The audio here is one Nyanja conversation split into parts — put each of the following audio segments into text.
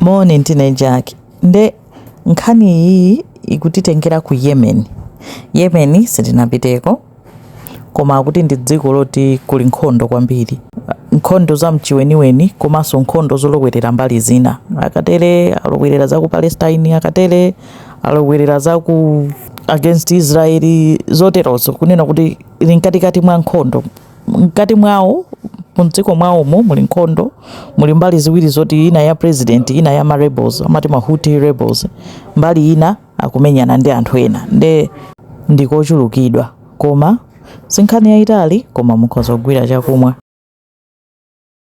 Moni ndine Jack nde nkhani iyiyi ikutitengera ku Yemen. Yemen sindinapiteko koma akuti ndi dziko loti kuli nkhondo kwambiri, nkhondo za mchiweniweni komanso nkhondo zolowerera mbali zina, akatere alowerera za ku Palestine, akatere alowerera za ku against Israel zoterozo, kunena kuti ili mkatikati mwa nkhondo. mkati mwawo mdziko mwawomo muli nkhondo muli mbali ziwiri zoti ina ya president ina ya ma rebels amati ma Houthi rebels mbali ina akumenyana ndi anthu ena nde ndikochulukidwa koma sinkhani yayitali koma mukhoza kugwira chakumwa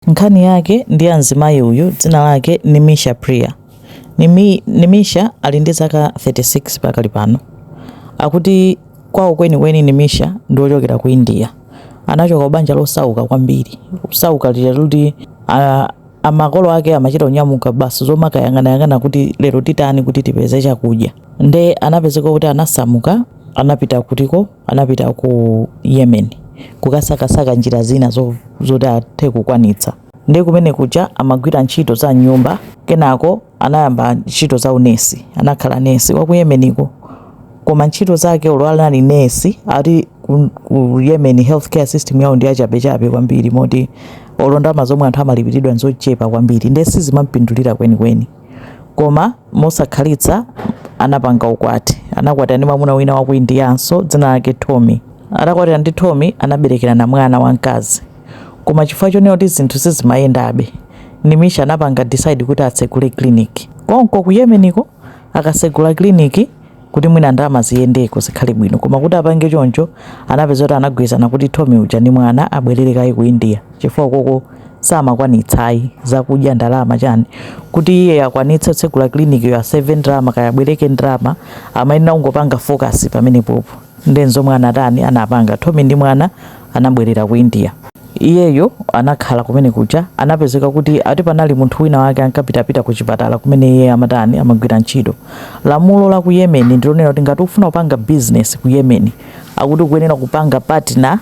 Nkhani yake ndi ya mzimayi uyu dzina lake Nimisha Priya. Nimi, Nimisha ali ndi zaka 36 pakali pano. Akuti kwawo kwenikweni Nimisha ndi wochokera ku India. Anachoka kubanja losauka kwambiri, kusauka lija kuti a, a makolo ake amachita kunyamuka basi zomakayang'anayang'ana kuti lero titani kuti tipeze chakudya. Nde anapezeka kuti anasamuka anapita kutiko anapita ku Yemen kukasakasaka njira zina zo, zoti athe kukwanitsa nde kumene kuja amagwira ntchito za nyumba kenako anayamba ntchito za unesi anakhala nesi wa ku Yemeniko koma ntchito zake olo anali nesi ati ku, ku Yemen healthcare system yawo ndi yachabechabe kwambiri moti olo ndalama zomwe anthu amalipiridwa nzochepa kwambiri nde sizimampindulira kwenikweni Koma mosakhalitsa anapanga ukwati. Anakwatira ndi mwamuna wina wa ku Indianso dzina lake Tommy. Atakwatira ndi Tommy anaberekerana mwana wamkazi. Koma chifukwa chonena kuti zinthu sizimayendabe, Nimisha anapanga decide kuti atsegule clinic. Konko ku Yemeniko akatsegula clinic kuti mwina ndalama ziyendeko zikhale bwino koma kuti apange choncho anapeza kuti anagwirizana kuti Tommy uja ndi mwana abwerere kaye ku India chifukwa koko samakwanitsayi zakudya ndalama chani kuti iye akwanitse kutsegula clinic yo aseve ndalama kaya abwereke ndalama amayenera kungopanga focus pamenepopo Nde nzomwe anatani anapanga Tommy ndi mwana anabwerera ku India. Iyeyo anakhala kumene kuja anapezeka kuti ati panali munthu wina wake ankapitapita ku chipatala kumene iyeyo amatani amagwira ntchito. Lamulo la ku Yemen ndilonena kuti ngati ukufuna kupanga business ku Yemen akuti ukuyenera kupanga partner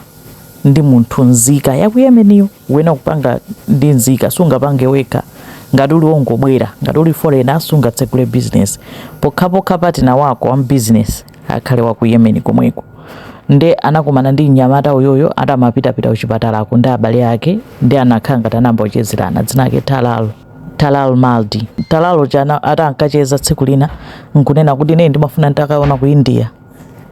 ndi munthu nzika ya ku Yemen yo. Ukuyenera kupanga ndi nzika sungapange wekha ngati uli wongobwera ngati uli foreigner sungatsegule business pokhapokha partner wako wa mu business akhale wa ku Yemen komweko nde anakumana ndi mnyamata uyoyo ati amapitapita kuchipatalako ndi abale ake ndi anakhala ngati anayamba kuchezerana dzina lake Talal Talal Mahdi Talal uja atamacheza tsiku lina nkunena kuti ine ndimafuna nditakaona ku India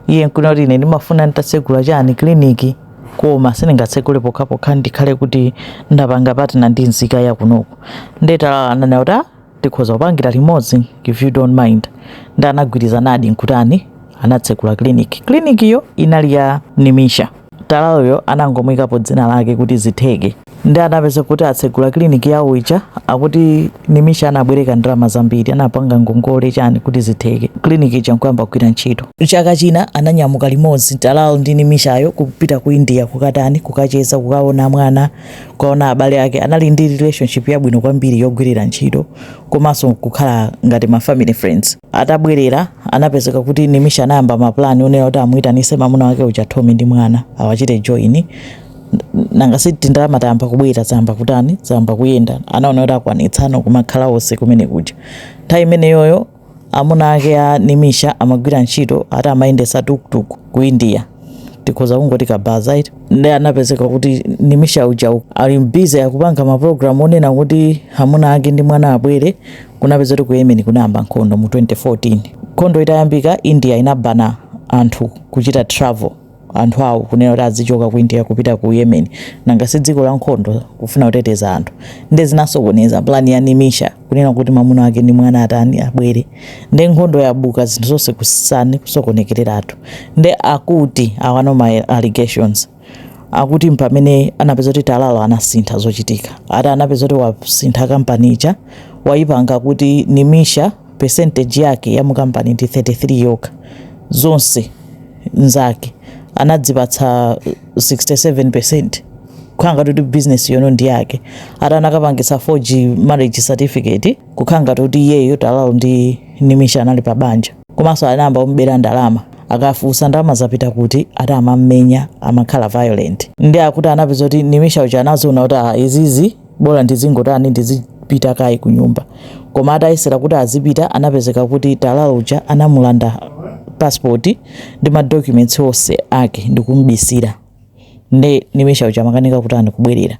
iye nkunena kuti ine ndimafuna nditatsegula chani kliniki koma sindingatsegule pokhapokha ndikhale kuti ndapanga patina ndi nzika yakunoku nde Talal ananena kuti "Ah, tikhoza kupangira limodzi if you don't mind nde anagwirizanadi nkutani anatsegula clinic clinikiyo inali ya nimisha talaloyo anangomuyikapo dzina lake kuti zitheke nde anapeza kuti atsegula clinic yawo ija akuti nimisha anabwereka ndalama zambiri anapanga ngongole chani kuti zitheke clinic ija nkuyamba kugwira ntchito chaka china ananyamuka limodzi talal ndi nimishayo kupita ku india kukatani kukacheza kukaona mwana kukaona abale ake anali ndi relationship yabwino kwambiri yogwirira ntchito komanso kukhala ngati ma family friends atabwerera anapezeka kuti nimisha anayamba mapulani onena kuti amuyitanise mamuna wake uja Tommy ndi mwana awachite join nanga si tindalama tayamba kubwera zayamba kutani zayamba kuyenda anaona kuti akwanitsano kumakhala onse kumene kuja nthawi imeneyoyo Amuna ake a Nimisha amagwira ntchito ati amayendetsa tuk-tuk ku India. Tikhoza kungoti kabaza eti. Nde anapezeka kuti Nimisha uja u- ali busy akupanga ma program onena kuti amuna ake ndi mwana abwere. Kunapeza kuti ku Yemen kunayamba nkhondo mu 2014. Nkhondo itayambika India inabana anthu kuchita travel. anthu awo kunena kuti adzichoka ku India kupita ku Yemen nanga si dziko la nkhondo kufuna kuteteza anthu nde zinasokoneza plan ya Nimisha kunena kuti mamuna wake ndi mwana atani abwere nde nkhondo yabuka zinthu zonse kutani kusokonekereratu nde akuti awano ma allegations akuti mpamene anapeza kuti talal anasintha zochitika ati anapeza kuti wasintha kampani ija waipanga kuti Nimisha percentage yake ya mu company ndi 33 yokha, zonse nzake anadzipatsa 67%, kukhala ngati kuti business yono ndi yake, ati anakapangitsa forge marriage certificate kukhala ngati kuti iyeyo Talal ndi Nimisha anali pa banja, komanso anayamba kumubera ndalama, akafunsa ndalama zapita kuti ati amamumenya, amakhala violent, nde akuti anapeza kuti Nimisha uja anaziona kuti aah izizi. Bola ndizingotani ndizipita kaye kunyumba. Koma atayesera kuti azipita anapezeka kuti Talal uja anamulanda passport ndi ma documents onse ake ndikumubisira. Nde nimisha uja amakanika kutani kubwerera.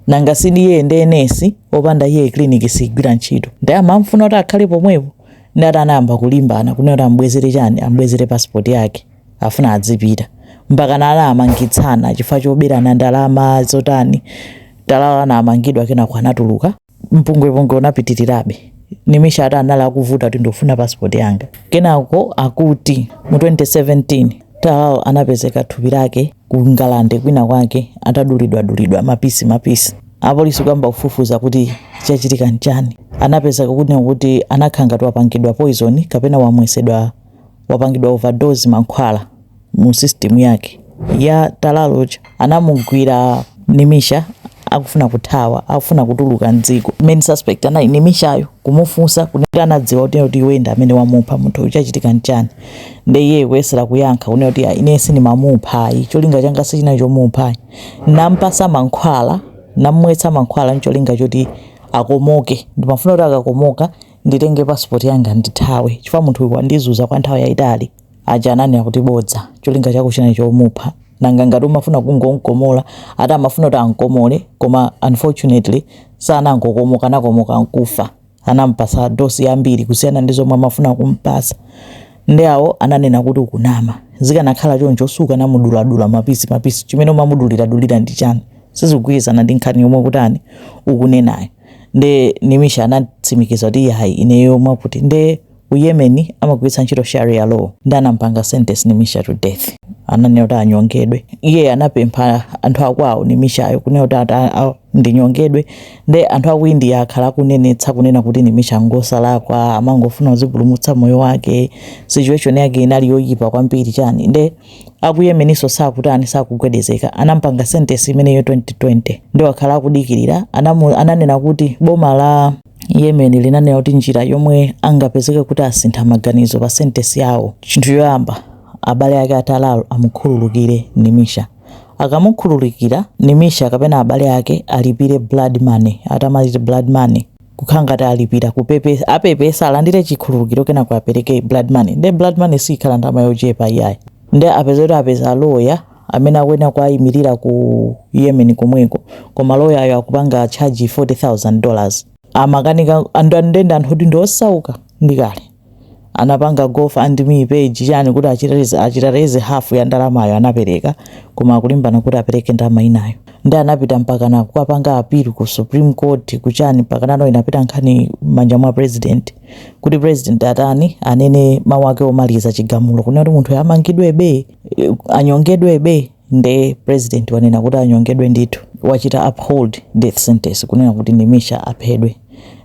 Nanga si ndi iye ndi nurse opanda iye clinic sigwira ntchito. Nde amamfuna kuti akhale pomwepo nde ati anayamba kulimbana kunena kuti ambwezere chani ambwezere passport yake. afuna adzipita mpakana anamangitsana chifukwa choberana ndalama zotani talal anamangidwa kenako anatuluka mpungwepungwe unapitirirabe nimisha ati anali akuvuta kuti ndikufuna passport yanga kenako akuti mu 2017 talal anapezeka thupi lake ku ngalande kwina kwake atadulidwadulidwa mapisi mapisi apolisi kuyamba kufufuza kuti chachitika nchani anapezeka kuti anakhala ngati wapangidwa poison kapena wamwetsedwa wapangidwa overdose mankhwala mu system yake ya Talal uja anamugwira Nimisha akufuna kuthawa akufuna kutuluka mdziko main suspect anali Nimishayo kumufunsa kuti anadziwa kuti kuti iwe ndi amene wamupha munthu uyu chachitika nchani nde iye kuyesera kuyankha kunena kuti ine sindimamupha ayi cholinga changa sichinali chomupha ayi nampasa mankhwala namwetsa mankhwala ncholinga choti akomoke ndimafuna kuti akakomoka nditenge passport yanga ndithawe chifukwa munthu uyu wandizuza kwa nthawi yayitali aja ananena kuti bodza cholinga chako chinali chomupha nanga ngati umafuna kungomkomola ati amafuna kuti ankomole koma unfortunately sanangokomoka anakomoka nkufa anampasa dose yambiri kusiyana ndi zomwe amafuna kumpasa ndi awo ananena kuti ukunama zikanakhala choncho sukanamuduladula mapisi mapisi chimene umamuduliradulira ndi chani sizikugwirizana ndi nkhani yomwe ukutani ukunenayo nde Nimisha anatsimikiza kuti yayi ineyo mwakuti nde ku Yemen amagwiritsa ntchito sharia law nde anampanga sentence Nimisha to death ananena kuti anyongedwe iye anapempha anthu akwawo Nimishayo kunena kuti ati a- a- ndinyongedwe nde anthu aku India akhala akunenetsa kunena kuti Nimisha ngosalakwa amangofuna kuzipulumutsa moyo wake situation yake inali yoyipa kwambiri chani nde aku Yemenso sakutani sakugwedezeka anampanga sentence imeneyo 2020 nde akhala akudikirira anamu, ananena kuti boma la Yemen linanena kuti njira yomwe angapezeke kuti asintha maganizo pa sentence yawo chinthu choyamba abale ake a Talal amukhululukire Nimisha akamukhululukira Nimisha kapena abale ake alipire blood money atamaliza blood money kukhala ngati alipira kupepesa apepesa alandire chikhululukiro kenako apereke blood money nde blood money sikhala ndalama yochepa iyayi nde apeza kuti apeza loya amene akuyenera kuwayimirira ku Yemen komweko koma loyayo akupanga charge 40000 dollars amakanika and anthu kuti ndiosauka ndikale anapanga GoFundMe page chani kuti achita raise- achita raise half ya ndalamayo anapereka koma akulimbana kuti apereke ndalama inayo ndi anapita mpakana kukapanga appeal ku supreme court kuchani mpakana pano inapita nkhani m'manja mwa president kuti president atani anene mawu ake omaliza chigamulo kunena kuti munthu amangidwebe eh, anyongedwebe nde president wanena kuti anyongedwe ndithu wachita uphold death sentence kunena kuti Nimisha aphedwe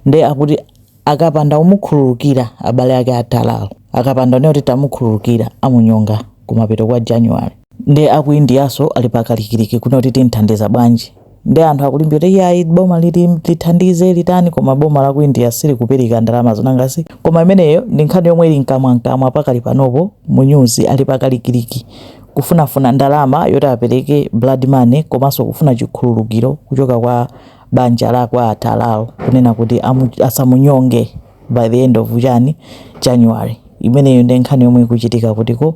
nde akuti Akapanda kumukhululukira abale ake a Talal, akapanda kunena kuti tamukhululukira, amunyonga kumapeto kwa January. Nde a ku Indianso ali pa kalikiliki kunena kuti tim'thandiza bwanji. Nde anthu akulimbikira kuti iyayi boma lithandize, litani koma boma la ku India silikupereka ndalamazo. Nanga si koma imeneyo ndi nkhani yomwe ili mkamwamkamwa pakali panopo mu nyuzi. Ali pa kalikiliki kufunafuna ndalama yoti apereke blood money komanso kufuna chikhululukiro kuchoka kwa a Talal. banja la kwa Talal kunena kuti asamunyonge by the end of chani January. Imeneyo ndi nkhani yomwe ikuchitika kutiko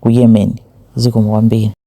ku Yemen. Zikomo kwambiri.